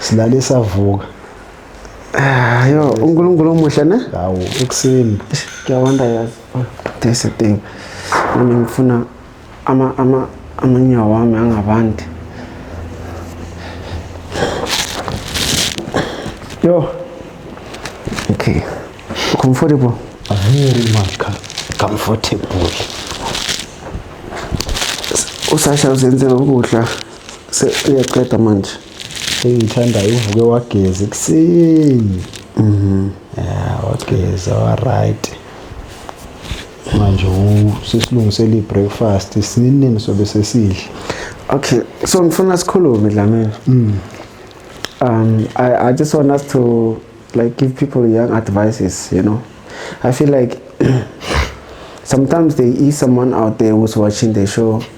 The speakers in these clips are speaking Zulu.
silale savuka ah, yo unkulunkulu omuhle ne hawu ekuseni ngiyawanda yazi oh, there's a thing mina ngifuna ama ama amanyawo wami angabandi yo okay comfortable very much comfortable usasha uzenzela ukudla uyaqeda manje engiyithandayo uvuke wageza ekuseni mhm. ya wageza wa-right manje sesilungisela i-breakfast sininini sobe sesidle okay so ngifuna sikhulume dlamini mm. um I, i just want us to like give people young advices you know i feel like sometimes there is someone out there who's watching the show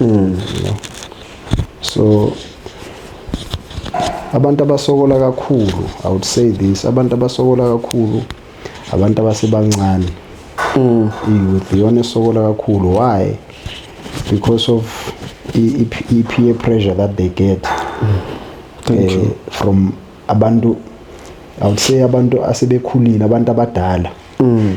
Mm, no. So abantu abasokola kakhulu i would say this abantu abasokola kakhulu abantu abasebancane mm. i-youth iyona esokola kakhulu why because of i-peer pressure that they get mm. uh, from abantu i would say abantu asebekhulile abantu abadala mm.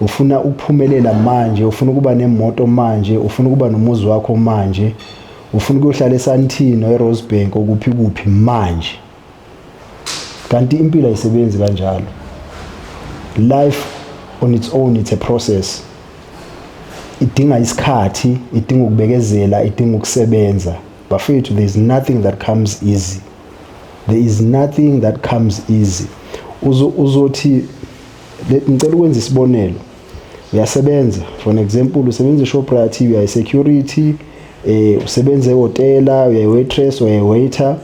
Ufuna ukuphumelela manje, ufuna ukuba nemoto manje, ufuna ukuba nomuzi wakho manje, ufuna ukuyohlala eSandton or eRosebank okuphi kuphi manje. Kanti impilo ayisebenzi kanjalo. Life on its own it's a process. Idinga isikhathi, idinga ukubekezela, idinga ukusebenza. Bafethu there is nothing that comes easy. There is nothing that comes easy. Uzothi ngicela ukwenza isibonelo uyasebenza for an example usebenza eShoprite uyayi security eh usebenza ehotela uyayi waitress uyayi waiter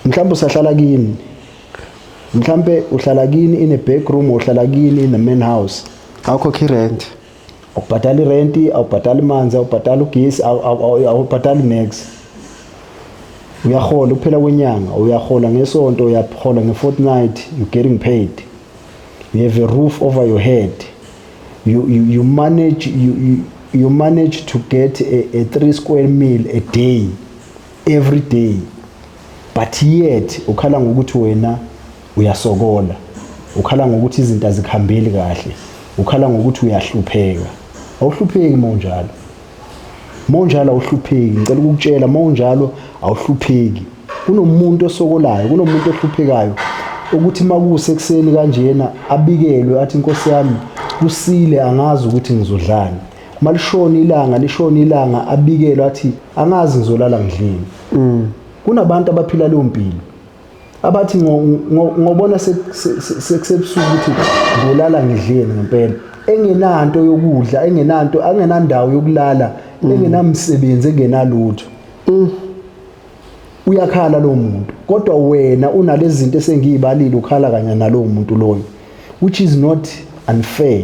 mhlawumbe usahlala kini mhlawumbe uhlala kini in a back room uhlala kini in a main house awukhokhi rent awubhadali renti awubhadali manzi awubhadali ugesi awubhadali nex uyahola ukuphela kwenyanga uyahola ngesonto uyahola nge-fortnight you're getting paid you have a roof over your head you, you, you manage you, you, you manage to get a, a three square meal a day every day but yet ukhala ngokuthi wena uyasokola ukhala ngokuthi izinto azikhambeli kahle ukhala ngokuthi uyahlupheka awuhlupheki uma unjalo uma unjalo awuhlupheki ngicela ukukutshela uma unjalo awuhlupheki kunomuntu osokolayo kunomuntu ohluphekayo ukuthi uma kusekuseni kanjena abikelwe athi inkosi yami kusile angazi ukuthi ngizodlani malishona ilanga lishona ilanga abikelwa athi angazi ngizolala ngidlini mm. kunabantu abaphila leyo mpilo abathi ngobona sekusebusuku ukuthi ngolala ngidleni ngempela engenanto yokudla engenanto angenandawo yokulala mm. engenamsebenzi engenalutho mm. uyakhala lo muntu kodwa wena unalezi zinto esengiyibalile ukhala kanye nalowo muntu loyo which is not unfair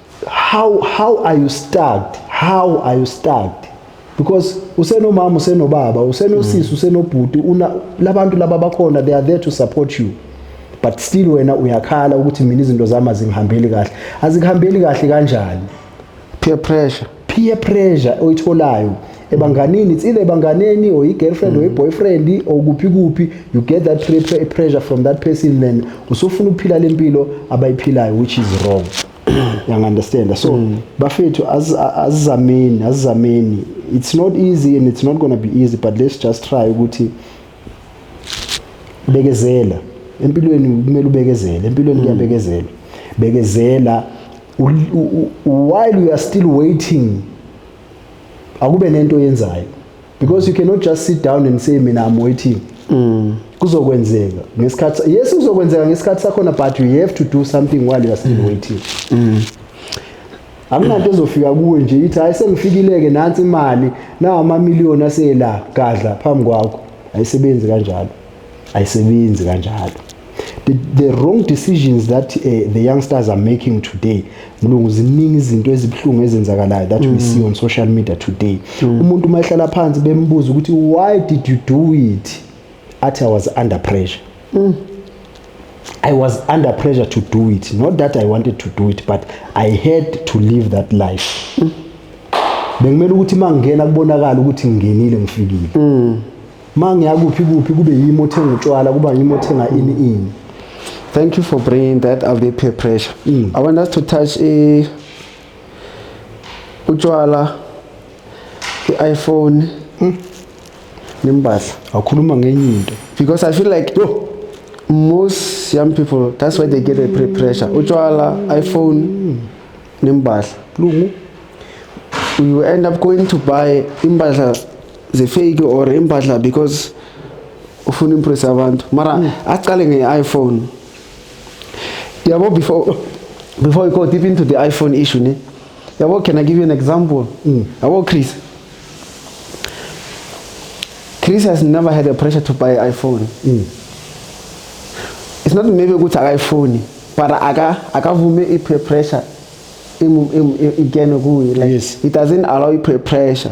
how how are you stuck how are you stuck because usenomama usenobaba usenosisi mm. usenobhuti una labantu laba bakhona they are there to support you but still wena uyakhala ukuthi mina izinto zami azingihambeli kahle azikuhambeli kahle kanjani peer pressure peer pressure oyitholayo ebanganini it's either ebanganeni or i-girlfriend or i-boyfriend or kuphi kuphi you get that pre- pre- pressure from that person then usufuna ukuphila le mpilo abayiphilayo which is wrong yangu-understanda so bafethu azi- a- azizameni azizameni it's not easy and it's not gonna be easy but let's just try ukuthi bekezela empilweni kumele ubekezele empilweni kuyabekezelwa bekezela while we are still waiting akube nento oyenzayo because you cannot just sit down and say mina I'm waiting mm. kuzokwenzeka ngesikhathi yes kuzokwenzeka ngesikhathi sakhona but you have to do something while you are still mm. waiting mm. akunanto ezofika kuwe nje ithi hayi sengifikileke nansi imali nawo amamiliyoni aseyela gadla phambi kwakho ayisebenzi kanjalo ayisebenzi kanjalo the, the wrong decisions that uh, the youngsters are making today mlungu ziningi izinto ezibuhlungu ezenzakalayo that mm. we see on social media today mm. umuntu uma ehlala phansi bembuza ukuthi why did you do it athi i was under pressure mm. I was under pressure to do it. Not that I wanted to do it, but I had to live that life. Mm. Bengimele ukuthi mangena kubonakala ukuthi ngingenile ngifikile. Mm. ma ngiyakuphi kuphi kube yimi othenga utshwala kuba yimi othenga ini ini thank you for bringing that up the peer pressure mm. i want us to touch a utshwala i-iphone mm. nembahla awukhuluma ngenye into because i feel like oh, most young people that's why they get a peer pressure utshwala iphone mm. nembahla lungu you end up going to buy imbahla zifake or impahla because ufuna impress abantu mara mm. aqale nge-iphone yabo before before we go deep into the iphone issue ne yabo can i give you an example mm. yabo chris chris has never had a pressure to buy iphone mm. it's not maybe ukuthi akayifoni but akavume i-peer pressure ingene kuye like yes. it doesn't allow i-peer pressure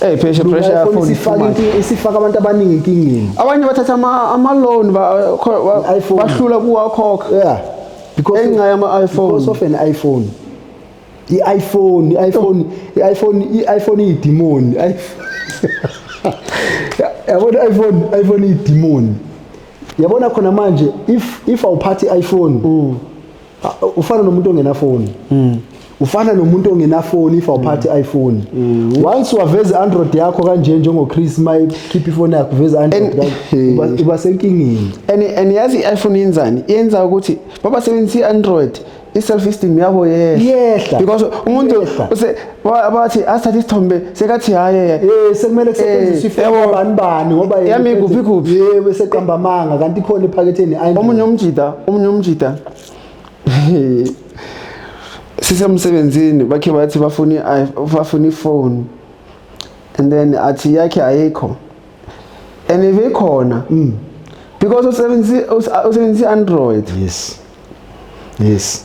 Hey pheshe pressure yakhona isifaka inkinga isifaka abantu abaningi inkingeni. Abanye bathatha ama ama loan bahlula kuwakhokha. Yeah. Because enxa yama iPhone. Because of an iPhone. I-iPhone, i-iPhone, i-iPhone, i-iPhone iyidimoni. Yabona i-iPhone, i-iPhone iyidimoni. Yabona khona manje if if awuphathi i-iPhone. Mm. ufana nomuntu ongenafoni mm. ufana nomuntu ongenafoni if awuphathi mm. iPhone mm. once waveza Android yakho kanje njengo Chris my keep ifoni yakho veza Android uba senkingeni and and yazi iPhone yenzani yenza ukuthi baba sebenzisa Android i self esteem yabo yehla yehla because umuntu use Wa- bathi asithathe isithombe sekathi haye Eh sekumele kusetshenziswe Eh, yabo. ifoni bani bani ngoba yena Yami uphethe- kuphi kuphi? Yebo seqamba amanga kanti ikhona ephaketheni ayi. omunye umjida omunye umjida sisemsebenzini bakhe bathi bafuna i- bafuna ifoni and then athi yakhe ayikho and if ikhona Mm. because usebenzisa usebenzisa android Yes. Yes.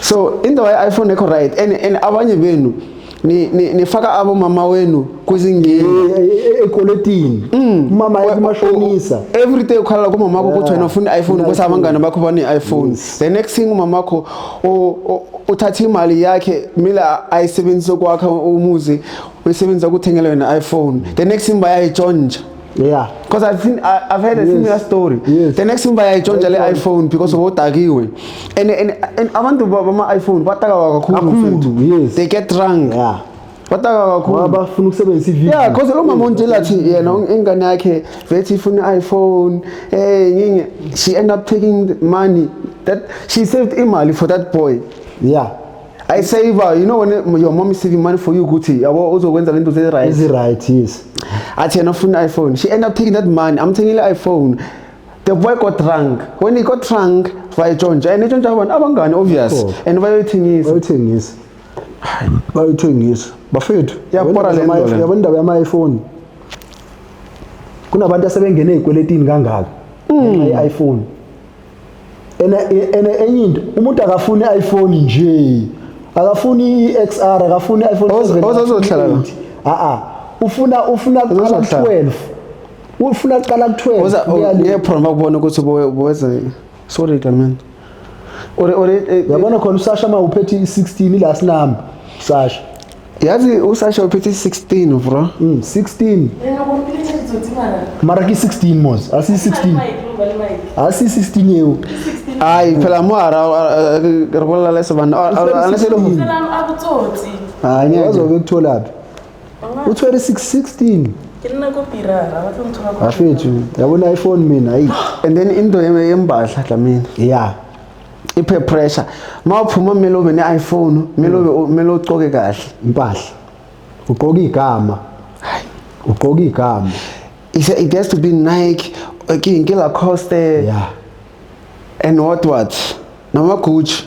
so into waye iphone ekho right and, and abanye benu nifaka ni, ni abomama wenu kwizingeekweletini eh, eh, eh, mm. umama kumashonisa every day ukhalala kumama wakho ukuthi wena ufuna i-iphone ukuthi abangane bakho bane-iphone the next thing umama wakho uthatha imali yakhe kumele ayisebenzise kwakha umuzi uyisebenzisa ukuthengela wena i-iphone the next thing bayayitshontsha yeah because i've seen I, i've heard yes. a similar story yes. the next thing bayayitshontsha le iphone because bodakiwe and and, and abantu bama iphone bataka kakhulu yes they get drunk yeah bataka kakhulu abafuna ukusebenzisa ivideo yeah because lo mama ontshela athi yena ingane yakhe vethi ifuna iphone eh nginge she end up taking money that she saved imali for that boy yeah I save her. You know when your mom is saving money for you, Gucci, yabo uzokwenza lento ze right. Is right, yes. Athi yena ufuna iPhone. She end up taking that money. I'm taking the iPhone. The boy got drunk. When he got drunk, bayitshontsha and itshontsha abantu abangani obvious oh. and bayoyithengisa. Bayoyithengisa. Bayoyithengisa. Bafethu, yabona le nto. Yabona indaba yama iPhone. Kunabantu asebengene ezikweletini kangaka. Mm. I-iPhone. ene enye into umuntu akafuni iPhone nje akafuni iXR akafuni iPhone ozozohlala a a ufuna ufuna kuqala ku12 ufuna kuqala ku12 uye promo kubona ukuthi bowenza sorry kaman ore ore eh, eh. yabona khona usasha uma uphethe i16 ila sinamba sasha yazi usasha uphethe 16 bro mm, 16 mara ki 16 mos asi 16 asi 16 yeo ai phela mo ara re bolela le sebana ana se lo mo ha nya wazo ke thola phi u tshwere 616 ke nna ko pirara ba tlo nthola ko afethu yabona iphone mina ai and then into yembahla dlamini yeah iphe pressure mawuphuma kumele ube ne-iphone kumele ube kumele ucoke kahle impahla ugqoka igama ugqoka igama it, it has to be nike king ke lacoste yeah. and what what namagucci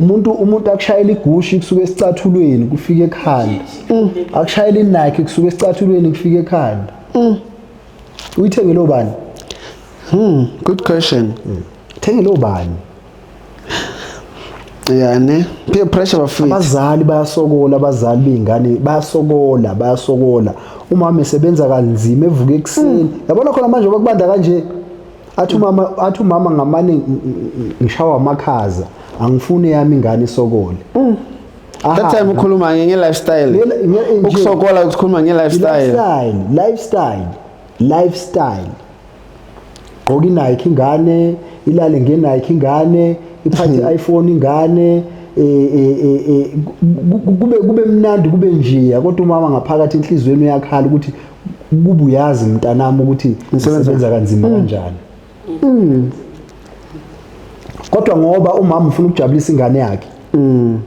umuntu umuntu akushayela igushi kusuke esicathulweni kufika ekhanda mm. akushayela inike kusuke esicathulweni kufika ekhanda mm. uyithengele obani hmm good question mm. Thengele ubani? Yani peer pressure bafika. Abazali bayasokola abazali beyingane bayasokola bayasokola. Umama esebenza kanzima evuka ekuseni. Hmm. Yabona khona manje bakubanda kanje. Athi umama athi umama ngamane ngishawa amakhaza. Angifuni yami ingane isokole. Hmm. That time ukhuluma nge lifestyle. Ukusokola ukukhuluma nge lifestyle. Lifestyle, lifestyle, lifestyle. gqoka inike ingane ilale ngenike ingane iphathe hmm. iPhone ingane e, e, e, kube kube mnandi kube njiya kodwa umama ngaphakathi enhlizweni uyakhala ukuthi kuba uyazi mntanami ukuthi usebenza kanzima hmm. kanjani hmm. kodwa ngoba umama ufuna ukujabulisa ingane yakhe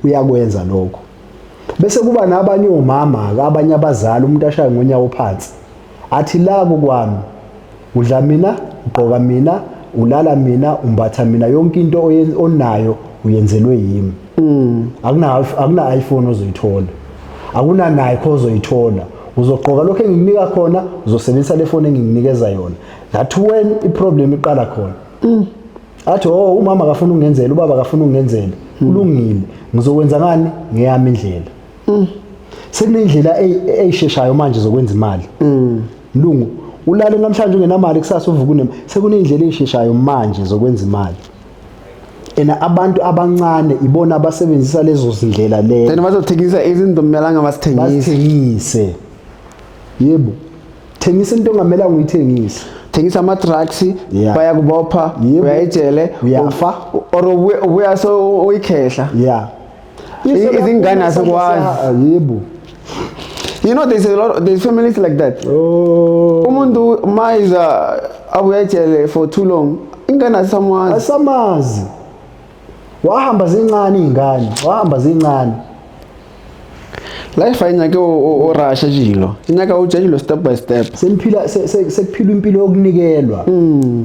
uyakwenza lokho bese kuba nabanye omama abanye abazali umuntu ashaye ngonyawo phansi Athi la kokwami. Udla mina, ugqoka mina, ulala mina, umbatha mina, yonke into oyen- onayo uyenzelwe yimi. Akuna akuna iPhone ozoyithola. Akuna Nike ozoyithola. Uzogqoka lokho engikunika khona, uzosebenzisa le phone engikunikeza yona. That when i problem iqala khona. Athi oh umama akafuna ukungenzela, ubaba akafuna ukungenzela. Kulungile. Ngizokwenza ngani? Ngeyami indlela. mm. sekunendlela eyisheshayo manje zokwenza imali mm. mlungu ulale namhlanje ungenamali kusasa uvuka unema sekunendlela eyisheshayo manje zokwenza imali ena abantu abancane ibona abasebenzisa lezo zindlela leyo then bazothengisa izinto kumelanga basithengise yebo thengisa into ongamelanga uyithengise thengisa ama-drugs yeah. bayakubopha uyayijele uyafa or ubuya so uyikhehla yeah I- izingane asikwazi. yebo You know, there's a lot, there's families like that. oh Umuntu mayiza abuya ejele for too long. Ingane asamazi. asamazi wahamba zincane iy'ngane wahamba zincane Life ayinake orasha jilo. Inyaka ujajilo step by step. seniphila se- se- sekuphilwa impilo yokunikelwa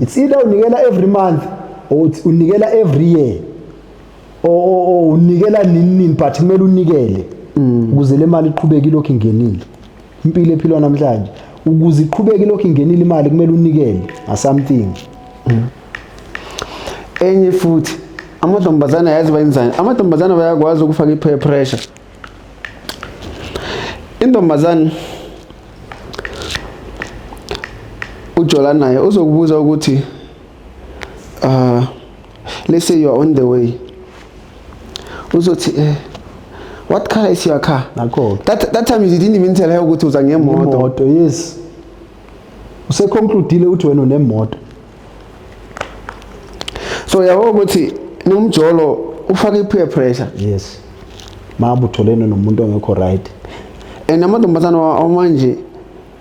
it's either unikela every month or uthi unikela every year o o o unikela nini nini but kumele unikele ukuze le mali iqhubeke ilokhu ingenile impilo ephilwa namhlanje ukuze iqhubeke ilokhu ingenile imali kumele unikele a something enye futhi amantombazane ayazi bayenzani amantombazane bayakwazi ukufaka i-peer pressure intombazane ujola naye uzokubuza ukuthi Uh, let's say you are on the way. Uzothi eh what car is your car? Nakho. That that time you didn't even tell her ukuthi uza ngemoto. Imoto, yes. Use concludeile uthi wena unemoto. So yabo ukuthi nomjolo ufaka i-peer pressure. Yes. Mabu utholene nomuntu ongekho right. And amantombazana amanje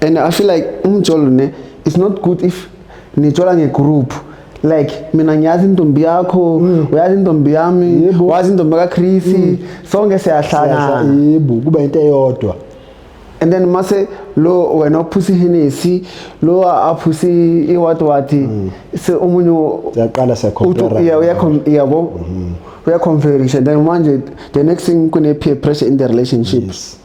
and i feel like umjolo ne it's not good if nijola ngegroup like mina ngiyazi intombi yakho mm. uyazi intombi yami wazi intombi kaChris mm. sonke siyahlangana yebo kuba into eyodwa and then mase lo wena ophusa ihenesi lo aphusa iwati wati mm. se umunye uyaqala siyacompare yeah uyabo mm-hmm. uyaconferisha then manje the next thing kune peer pressure in the relationship yes.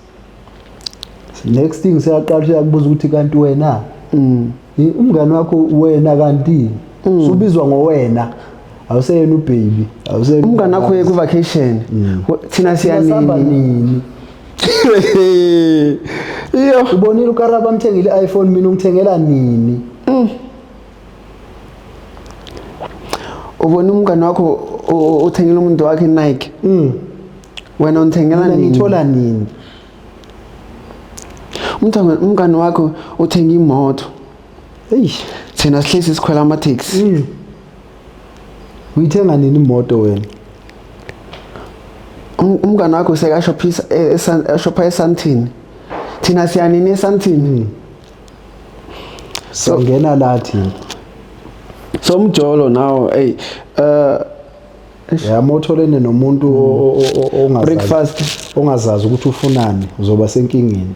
next thing seyaqala uyakubuza ukuthi kanti wena mm. umngane wakho wena kanti mm. subizwa ngowena awuseyena ubaby awuseyena umngane wakho uye ku-vacation mm. thina siyanini iyo ubonile ukaraba amthengile i-iphone mina ungithengela nini ubona umngane wakho uthengela umuntu wakhe Nike mm wena unithengela nini ngithola nini umthanga umngane wakho uthenga imoto eish thina sihlezi sikhwela ama taxi mm. uyithenga nini imoto wena um, umngane wakho sekashophisa eshopha e, esantini thina siyanini esantini mm. so ngena lathi so mjolo now hey uh yamotholene nomuntu ongazazi breakfast ongazazi ukuthi ufunani uzoba senkingeni